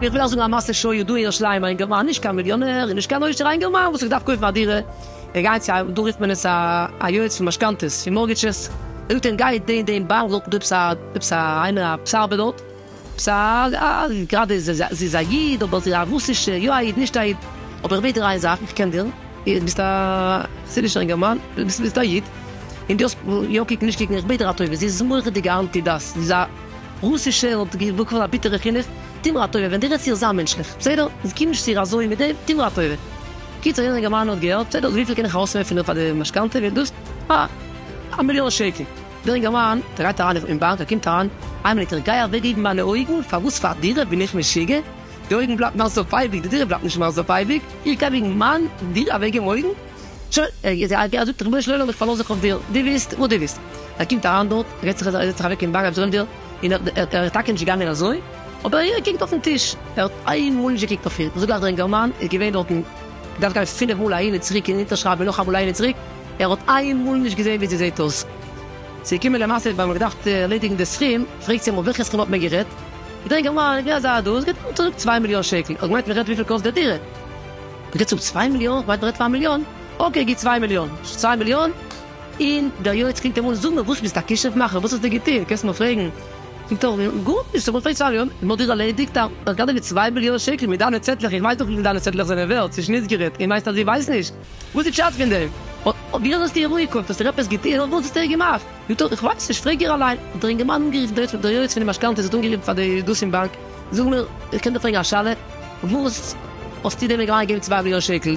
איך וויל אייך זאגן א מעשה שהיה דא אין ירושלים א אינגערמאן נישט קיין מיליאנער און נישט קיין עושר א אינגערמאן וואס האט געדארפט קויפן א דירה ער גייט צו א דא רופט מען עס א יועץ פון משכנתאות פון מארגעטשעס ער זאגט אים גיי דעם דעם באנק דארטן דא עפעס א עפעס א איינער א פסארבער דארט. סארי גראדע זי איז א איד אבער זי איז א רוסישע יא א איד נישט א איד אבער איך בעט דיר איין זאך איך קען דיר איר ביסט א חסידישער אינגערמאן ביסט ביסט א איד און די האסט יא קוקן נישט קוקן איך בעט דיר א טובה זי איז מורא'דיגע אנטי דת זי איז א רוסישע און האט באקומען א ביטערע חינוך טוה מיר א טובה ווען די רעדסט צו איר זיי מענטשליך בסדר קום נישט צו איר אזוי מיט דעם טוה מיר א טובה קיצור יענער אינגערמאן האט געהערט בסדר וויפיל קען איך ארויסוועפן פאר די משכנתא ווערט דאס א מיליאן שקל. דער אינגערמאן טרייט אריין אין באנק, ער קומט אריין, איין מינוט איך גיי אוועק געבן מיינע אויגן, פאר וואס פאר דירה בין איך משוגע? די אויגן בלייבט נאך אויף אייביג, די דירה בלייבט נישט מער אויס אויף אייביג, איך גיי וועגן מיין דירה אוועק געבן אויגן? שוין, ער זאגט ריבונו של עולם איך פארלאז זיך אויף דיר, דו וויסט וואס דו וויסט, ער קומט אריין דארט, ער זעצט זיך אוועק אין באנק, אבזרענדיל, און ער איז טאקע נישט געגאנגען אזוי, אבער ער קוקט אויפן טיש, ער האט איין מאל נישט געקוקט אויף אים, זאגט גלייך דער אינגערמאן איז געווען דארטן, דארף גיין פינף מאל אהין און צוריק און אונטערשרייבן און נאכאמאל אהין און צוריק, ער האט איינמאל נישט געזען ווי זי זעהט אויס. ס'איז געקומען למעשה ווען מ'האט געדארפט ערלעדיגן די סכום, פרעגט זי אמאל וועלכע סכום האט מען גערעדט? געדענק אמאל האט געזאגט אז דאס גייט אן צוריק צוויי מיליאן שקל, האט געמיינט מ'רעדט וויפיל קאסט די דירה. מ'רעדט צוריק צוויי מיליאן? כ'מיין מ'רעדט פון א מיליאן. אקעי גיב צוויי מיליאן. צוויי מיליאן? און דער יועץ קומט אמאל זאג מיר וואס ביסט א כישוף מאכער? וואס האסטו געטון? קענסט מיר פרעגן. זאגט ער גארנישט, אמאל פרעגט צוויי מיליאן, אמאל דירה ערלעדיגט, א גנב מיט צוויי מיליאן שקל מיט דיינע צעטלעך, איך ווייס דאך וויפיל דיינע צעטלעך זענען ווערט, צווישן אונז גערעדט, און מיינסט אז איך ווייס נישט? וואס איז פשט פון דעם? ווי אזוי האסטו איר אנגעקוקט? האסט איר עפעס געטון? וואס האסטו איר געמאכט? זאגט ער, איך ווייס נישט, פרעג איר אליין. האט ער אינגערמאן אנגערופן די יועץ, דער יועץ פונעם משכנתא האט אנגערופן פאר די דאס פון באנק, זאג מיר, איך קען דיר פרעגן א שאלה? וואס האסטו דעם אינגערמאן געגעבן צוויי מיליאן שקל?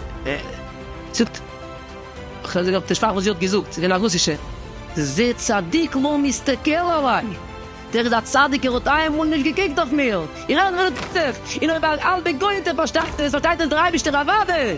זאגט ער, איך האב דערשראקן וואס זי האט געזאגט, זי איז געווען א רוסישע. זה צדיק לא מסתכל עלי, דער איז א צדיק, ער האט איינמאל נישט געקוקט אויף מיר, איך ער רעדט זיך, און אויב א האלבע גוי האט עפעס פארשטאנען, פארשטייט עס דער אייבערשטער אוודאי.